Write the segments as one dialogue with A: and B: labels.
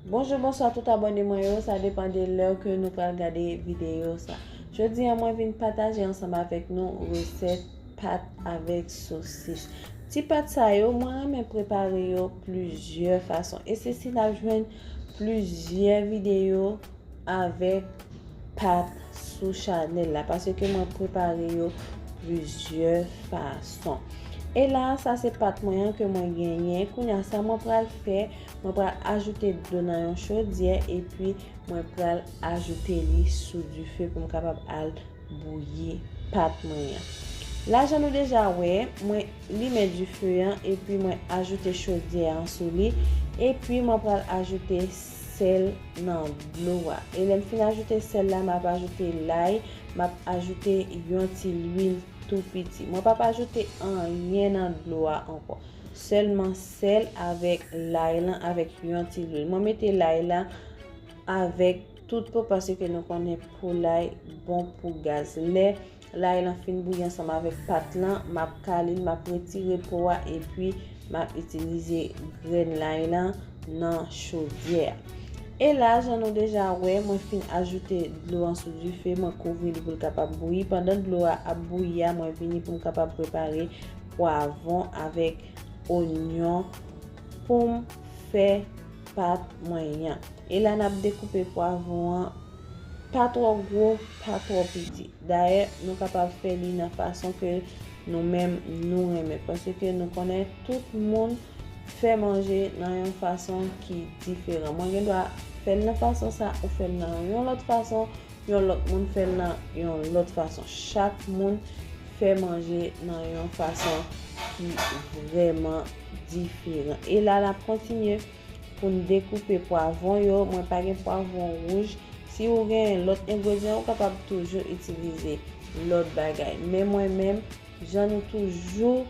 A: Bonjou bonswa tout abòne mwen yo sa depan de lè ke nou pral gade videyo sa jodi an mwen vin pataje ansanm avèk nou resèt pat avèk sosis ti pat sa yo mwen renmen prepare yo plizyè fason e se si nap jwenn plizyè videyo avèk pat sou chanèl la pase ke mwen prepare yo plizyè fason e la sa se pat mwen an ke mwen genyen kounya sa mwen pral fè Mwen pral ajoute dlo nan yon chodyè epi mwen pral ajoute li sou dife pou m kapab al bouyi pat mwen an. La jan nou deja wè, mwen limen dife an epi mwen ajoute chodyè an sou li epi mwen pral ajoute sèl nan dlo a. E lè m fin ajoute sèl la, m ap ajoute lay, m ap ajoute yon ti lwil tou piti. Mwen p ap ajoute anyen nan dlo a ankò, sèlman Sèl avèk lay lan avèk yon ti lwil. Mwen mete lay la avèk tout po pase ke nou konnen po lay bon pou gaz. Lè lay lan fin bouyi ansanm avèk pat lan, m ap kale l, m ap retire po a epi m ap itilize grenn lay lan nan chodyè a. E la jan nou deja wè, mwen fin ajoute dlo an sou dife, mwen kouvri li pou l kapab bouyi. Pandan dlo a ap bouyi a, mwen vini pou m kapab prepare pwavon avèk. onyon poum fè pat mwen yan e la nap dekoupe pwavon an pa twò gwo pa twò piti dayè nou kapab fè li nan fason ke nou menm nou renmen paske nou konnen tout moun fè manje nan yon fason ki diferan mwen gen dwa fèl nan fason sa ou fèl nan yon lòt fason Yon lòt moun fè l nan yon lòt fason. Chak moun fè manje nan yon fason ki vrèman diferan. E la n ap kontinye pou n dekoupe pwavon yo. Mwen pa gen pwavon wouj. Si ou genyen lòt engredyan, ou kapab toujou itilize lòt bagay. Men mwen menm, jan nou toujou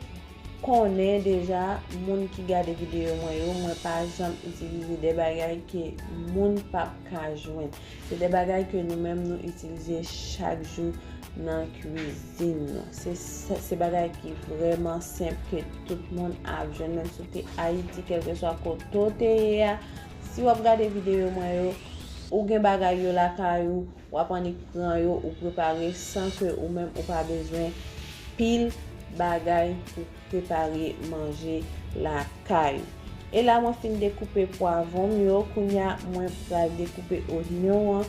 A: konnen deja, moun ki gade videyo mwen yo, mwen pa janm itilize de bagay ke moun pap ka jwenn. Se de bagay ke nou menm nou itilize chak jou nan kwizin nou. Se bagay ki vreman senp ke tout moun ap jwenn menm si w te Ayiti kelkeswa kote w te ye a. Si w ap gade videyo mwen yo, ou gen bagay yo lakay ou, w ap annik pran yo, ou prepare san ke ou menm ou pa bezwen pil bagay pou. prepare manje lakay ou e la mwen fin dekoupe pwavon m yo kounya mwen pral dekoupe onyon an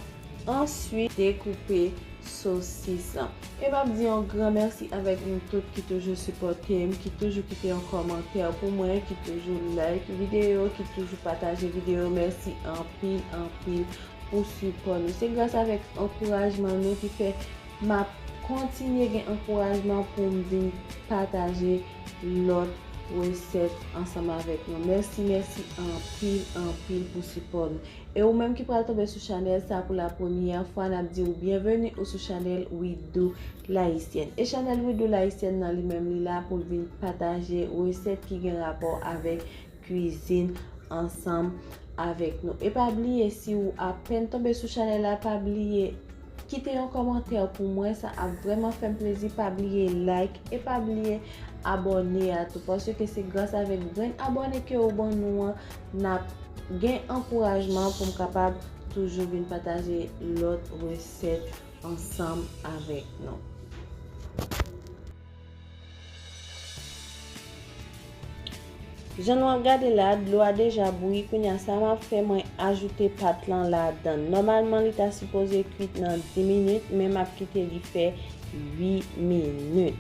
A: answit dekoupe sosis lan e map di yon gran mèsi avèk nou tout ki toujou sipòte m ki toujou kite yon kòmantè pou mwen ki toujou like videyo ki toujou pataje videyo mèsi anpil anpil pou sipò nou se gras avèk ankourajman nou ki fè Map kontinye gen ankourajman poum vin pataje lòt resèt ansanm avèk nou. Mèsi mèsi anpil anpil pou sipò nou. E ou menm ki pral tonbe sou chanèl sa pou la premyè fwa nap diw byenveni ou sou chanèl Widoo L'haïtienne. E chanèl Widoo L'haïtienne nan li menm li la poul vin pataje resèt ki gen rapò avèk Cuisine ansanm avèk nou e pa bliye si ou apèn tonbe sou chanèl la pa bliye Kite yon kòmantè pou mwen sa ap vrèman fèm plezi pa bliye like e pa bliye abòne a tou paske se gras avèk grenn abòne ke ou ban nou an nap gen ankourajman poum kapab toujou vin pataje lòt resèt ansanm avèk nou. Jan nou ap gade la dlo a deja bouyi kounye a sa map fè mwen ajoute pat lan ladann nòmalman li ta sipoze kwit nan 10 minit men map kite li fè 8 minit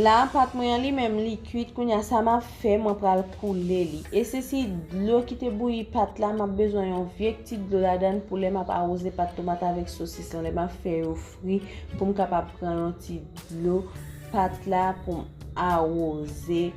A: la pat mwen an li menm li kwit kounye a sa map fè mwen pral koule li e se si dlo ki te bouyi pat la map bezwen yon vye ti dlo ladann pou lè map awoze pat tomat avèk sosis lan lè map fè yo espri pou m kapab pran yon ti dlo pat la pou m awoze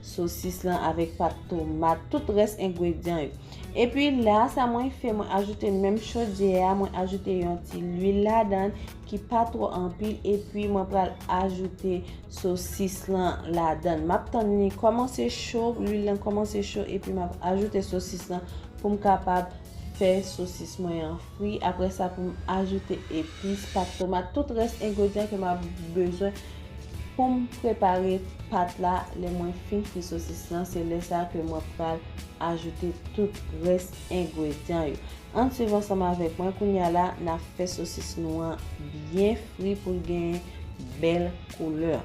A: sosis lan avèk pat tomat, tout rès engredyan yo. Epi la, sa mwen fè, mwen ajoute menm chodyè a, mwen ajoute yon ti lwil ladan ki pa twò anpil epi mwen pral ajoute sosis lan ladan. M ap tann li kòmanse cho, lwil lan kòmanse cho epi m ap ajoute sosis lan pou m kapab fè sosis mwen an. fri aprè sa poum ajoute epis, pat tomat, tout rès engredyan ke map bezwen poum prepare pat la, lè mwen fin fri sosis lan se lè sa ke mwen pral ajoute tout rès engredyan yo. Ann swiv ansanm avèk mwen kounya la na fè sosis nou an byen fri poul genyen bèl koulè.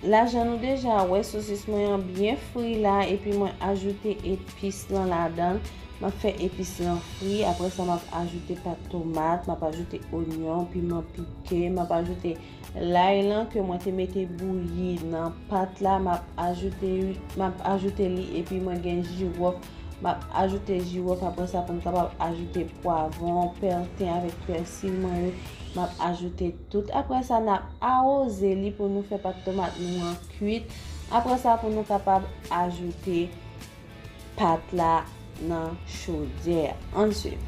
A: La jan nou deja wè sosis mwen an byen fri la epi mwen ajoute epis lan ladan. Mwen fè epis lan fri, apre sa mwen ajoute pat tomat, mwen ajoute onyon, piman pike, mwen ajoute lay lan ke mwen te mete bouyi nan pat la, mwen ajoute li epi mwen gen jiròf Map ajoute jiwòf apre sa pou m kapab ajoute pwavon, pèten avèk pèsil mwen yo. Map ajoute tout. Apre sa nap awoze li pou nou fè pat tomat nou an kuit. Apre sa pou nou kapab ajoute pat la nan chodyè a. Ann swiv.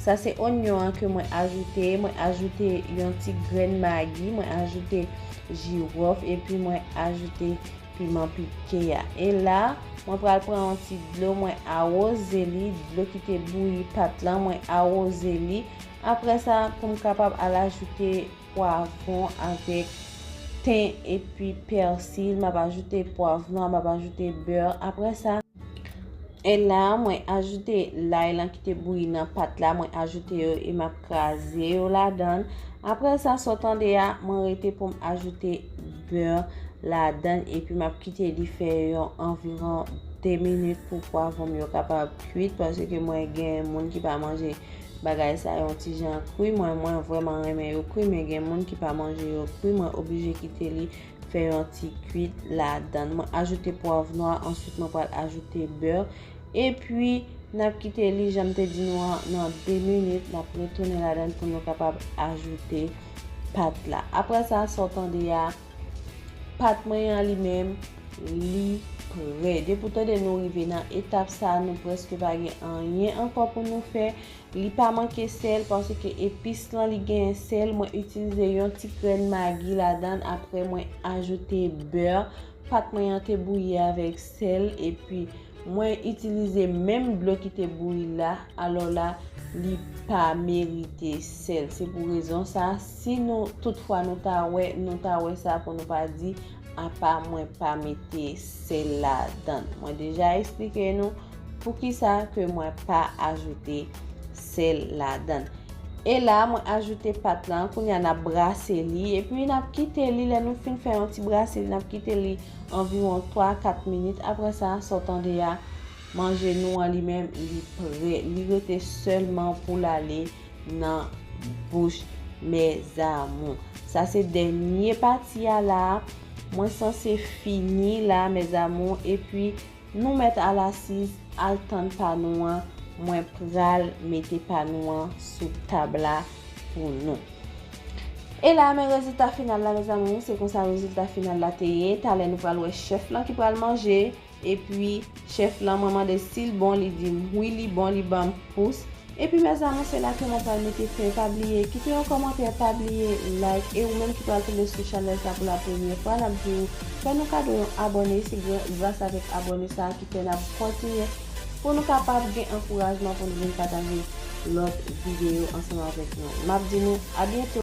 A: Sa se onyon an ke mwen ajoute, mwen ajoute yon ti grenn magi, mwen ajoute jirof epi mwen ajoute piman pike a. E la, mwen pral pran yon ti dlo, mwen awoze li, dlo ki te bouyi pat lan, mwen awoze li. Apre sa, pou m kapab al ajoute pwavron avèk ten epi persil map ajoute pwavron map ajoute beurre apre sa e la mwen ajoute lay lan kite bouyi nan pat la mwen ajoute yo e map kraze yo la dan apre sa so tande ya mwen rete poum ajoute beurre la dan epi map kite li fè yon anviron 2 minit pou pwavron yo kapab kwit pwase ke mwen gen moun ki pa manje Bagay sa yon ti jan kwi mwen mwen vreman renmen yo kwi men gen moun ki pa manje yo kwi mwen oblije kite li fè yon ti kwit ladann mwen ajoute pwav nwa answit mwen pral ajoute beur epwi nap kite li janm te di nou an nan 2 minit nap retounen ladann pou nou kapab ajoute pat la aprè sa sa w tande a. Pat mwen an li menm li prè. Depi ou tande nou rive nan etap sa nou prèske pa gen anyen ankò pou nou fè. Li pa manke sèl paske epis lan li gen sèl. Mwen itilize yon ti grenn magi ladan apre mwen ajoute bè. Pat mwen an te bouyi avèk sèl epi. Mwen itilize menm dlo ki te bouyi la, alò la li pa merite sèl. Se pou rezon sa, si nou tout fwa nou ta wè, nou ta wè sa pou nou pa di, apa mwen pa mete sèl la dann. Mwen deja esplike nou pou ki sa ke mwen pa ajoute sèl la dann. E la mwen ajoute pat lan, kounye a nap brase li, epi nap kite li, lè nou fin fè yon ti brase li, nap kite li. Anviwon 3 a 4 minit aprè sa, sa w tande a, manje nou an li menm li prè. Li rete sèlman pou l ale nan bouch mèzamou. Sa se dènye pati a la a. Mwen sanse fini la mèzamou epi Nou mèt al asiz al tann pa nou an mwen pral mete pa nou an sou tab la pou nou. E la men rezilta final la mes amours se konsa rezilta final la te ye talè nou pral wè chèf lan ki pral manje epi chèf lan mwen mande sil bon li dim wi li bon li banm pous Epi mes amour se la ke mwen pral mete fen pa bliye kite yon kòmantè pa bliye like e ou menm ki pral tonbe sou chanèl sa pou la premyè fwa nap di ou fè nou kado yon abòne se gras avèk abòne sa ki fè nap kontinye pou nou kapab gen ankourajman pou nou vin pataje lòt video ansanm avèk nou map di nou a byento.